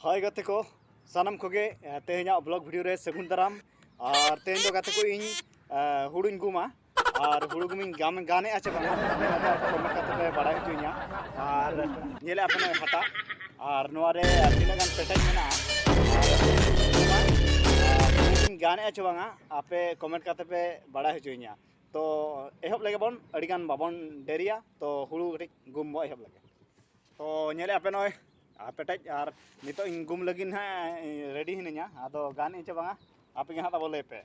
ᱦᱳᱭ ᱜᱟᱛᱮ ᱠᱚ ᱥᱟᱱᱟᱢ ᱠᱚᱜᱮ ᱛᱮᱦᱮᱧᱟᱜ ᱵᱞᱚᱜ ᱵᱷᱤᱰᱤᱭᱳ ᱨᱮ ᱥᱟᱹᱜᱩᱱ ᱫᱟᱨᱟᱢ ᱟᱨ ᱛᱮᱦᱮᱧ ᱫᱚ ᱜᱟᱛᱮ ᱠᱚ ᱤᱧ ᱦᱩᱲᱩᱧ ᱜᱩᱢᱟ ᱟᱨ ᱦᱩᱲᱩ ᱜᱩᱢᱤᱧ ᱜᱟᱢ ᱜᱟᱱᱮᱜᱼᱟ ᱪᱮ ᱵᱟᱝᱟ ᱠᱚᱢᱮᱱᱴ ᱠᱟᱛᱮ ᱯᱮ ᱵᱟᱲᱟᱭ ᱦᱚᱪᱚᱧᱟ ᱟᱨ ᱧᱮᱞᱮᱜᱼᱟ ᱯᱮ ᱱᱚᱜᱼᱚᱭ ᱦᱟᱴᱟᱜ ᱟᱨ ᱱᱚᱣᱟ ᱨᱮ ᱛᱤᱱᱟᱹᱜ ᱜᱟᱱ ᱯᱮᱴᱮᱡ ᱢᱮᱱᱟᱜᱼᱟ ᱦᱩᱲᱩᱧ ᱜᱟᱱᱮᱜᱼᱟ ᱪᱮ ᱵᱟᱝᱟ ᱟᱯᱮ ᱠᱚᱢᱮᱱᱴ ᱠᱟᱛᱮ ᱯᱮ ᱵᱟᱲᱟᱭ ᱦᱚᱪᱚᱧᱟ ᱛᱚ ᱮᱦᱚᱵ ᱞᱮᱜᱮ ᱵᱚᱱ ᱟᱹᱰᱤ ᱜᱟᱱ ᱵᱟᱵᱚᱱ ᱰᱮᱨᱤᱭᱟ ᱛᱚ ᱦᱩᱲᱩ ᱠᱟᱹᱴᱤᱡ ᱜᱩᱢ ᱵᱚ ᱮᱦᱚᱵ ᱞᱮᱜᱮ ᱛᱚ ᱧᱮᱞᱮᱜᱼᱟ ᱯᱮ ᱱᱚᱜᱼᱚᱭ ᱟᱨ ᱯᱮᱴᱮᱡ ᱟᱨ ᱱᱤᱛᱚᱜ ᱤᱧ ᱜᱩᱢ ᱞᱟᱹᱜᱤᱫ ᱱᱟᱦᱟᱜ ᱨᱮᱰᱤ ᱦᱤᱱᱟᱹᱧᱟ ᱟᱫᱚ ᱜᱟᱱ ᱤᱧ ᱪᱮ ᱵᱟᱝᱟ ᱟᱯᱮ ᱜᱮ ᱱᱟᱦᱟᱜ ᱛᱟᱵᱚ ᱞᱟᱹᱭ ᱯᱮ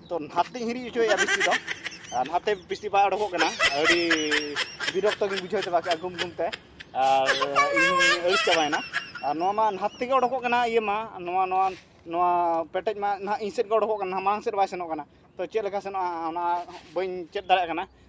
ᱛᱚ ᱱᱟᱛᱮᱧ ᱦᱤᱨᱤᱡ ᱦᱚᱪᱚᱭᱮᱫᱼᱟ ᱵᱤᱥᱤ ᱫᱚ ᱟᱨ ᱱᱟᱛᱮ ᱵᱤᱥᱤ ᱵᱟᱭ ᱚᱰᱚᱠᱚᱜ ᱠᱟᱱᱟ ᱟᱹᱰᱤ ᱵᱤᱨᱚᱠᱛᱚ ᱜᱤᱧ ᱵᱩᱡᱷᱟᱹᱣ ᱪᱟᱵᱟ ᱠᱮᱫᱼᱟ ᱜᱩᱢ ᱜᱩᱢᱛᱮ ᱟᱨ ᱤᱧ ᱟᱹᱲᱤᱥ ᱪᱟᱵᱟᱭᱮᱱᱟ ᱟᱨ ᱱᱚᱣᱟ ᱢᱟ ᱱᱟᱛ ᱛᱮᱜᱮ ᱚᱰᱚᱠᱚᱜ ᱠᱟᱱᱟ ᱤᱭᱟᱹ ᱢᱟ ᱱᱚᱣᱟ ᱱᱚᱣᱟ ᱱᱚᱣᱟ ᱯᱮᱴᱮᱡ ᱢᱟ ᱱᱟᱦᱟᱜ ᱤᱧ ᱥᱮᱫ ᱜᱮ ᱚᱰᱚᱠᱚᱜ ᱠᱟᱱᱟ ᱢᱟᱲᱟᱝ ᱥᱮᱫ ᱵᱟᱭ ᱥᱮᱱᱚᱜ ᱠᱟᱱᱟ ᱛᱚ ᱪᱮᱫ ᱞᱮᱠᱟ ᱥᱮᱱᱚᱜᱼᱟ ᱚᱱᱟ ᱵᱟᱹᱧ ᱪᱮᱫ ᱫᱟᱲᱮᱭᱟᱜ ᱠᱟᱱᱟ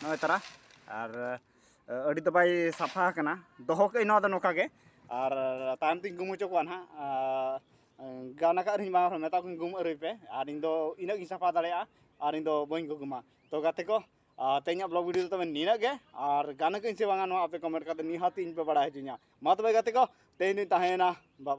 ᱱᱚᱜᱼᱚᱭ ᱛᱟᱨᱟ ᱟᱨ ᱟᱹᱰᱤ ᱫᱚ ᱵᱟᱭ ᱥᱟᱯᱷᱟ ᱟᱠᱟᱱᱟ ᱫᱚᱦᱚ ᱠᱟᱜ ᱟᱹᱧ ᱱᱚᱣᱟ ᱫᱚ ᱱᱚᱝᱠᱟ ᱜᱮ ᱟᱨ ᱛᱟᱭᱚᱢ ᱛᱤᱧ ᱜᱩᱢ ᱦᱚᱪᱚ ᱠᱚᱣᱟ ᱱᱟᱦᱟᱜ ᱜᱟᱱ ᱟᱠᱟᱫ ᱨᱮᱦᱚᱸᱧ ᱵᱟᱝ ᱨᱮᱦᱚᱸ ᱢᱮᱛᱟ ᱠᱚᱣᱟᱧ ᱜᱩᱢ ᱟᱹᱨᱩᱭ ᱯᱮ ᱟᱨ ᱤᱧ ᱫᱚ ᱤᱱᱟᱹᱜ ᱜᱤᱧ ᱥᱟᱯᱷᱟ ᱫᱟᱲᱮᱭᱟᱜᱼᱟ ᱟᱨ ᱤᱧ ᱫᱚ ᱵᱟᱹᱧ ᱜᱩᱜᱩᱢᱟ ᱛᱚ ᱜᱟᱛᱮ ᱠᱚ ᱛᱮᱦᱮᱧᱟᱜ ᱵᱞᱚᱜ ᱵᱷᱤᱰᱤᱭᱳ ᱫᱚ ᱛᱚᱵᱮ ᱱᱤᱱᱟᱹᱜ ᱜᱮ ᱟᱨ ᱜᱟᱱ ᱟᱠᱟᱫᱟᱹᱧ ᱥᱮ ᱵᱟᱝᱟ ᱱᱚᱣᱟ ᱟᱯᱮ ᱠᱚᱢᱮᱱᱴ ᱠᱟᱛᱮ ᱱᱤᱦᱟᱹᱛ ᱤᱧ ᱯᱮ ᱵᱟᱲᱟᱭ ᱦᱚᱪᱚᱧᱟ ᱢᱟ ᱛᱚᱵᱮ ᱜᱟᱛᱮ ᱠᱚ ᱛᱮᱦᱮᱧ ᱫᱚᱧ ᱛᱟᱦᱮᱸᱭᱮᱱᱟ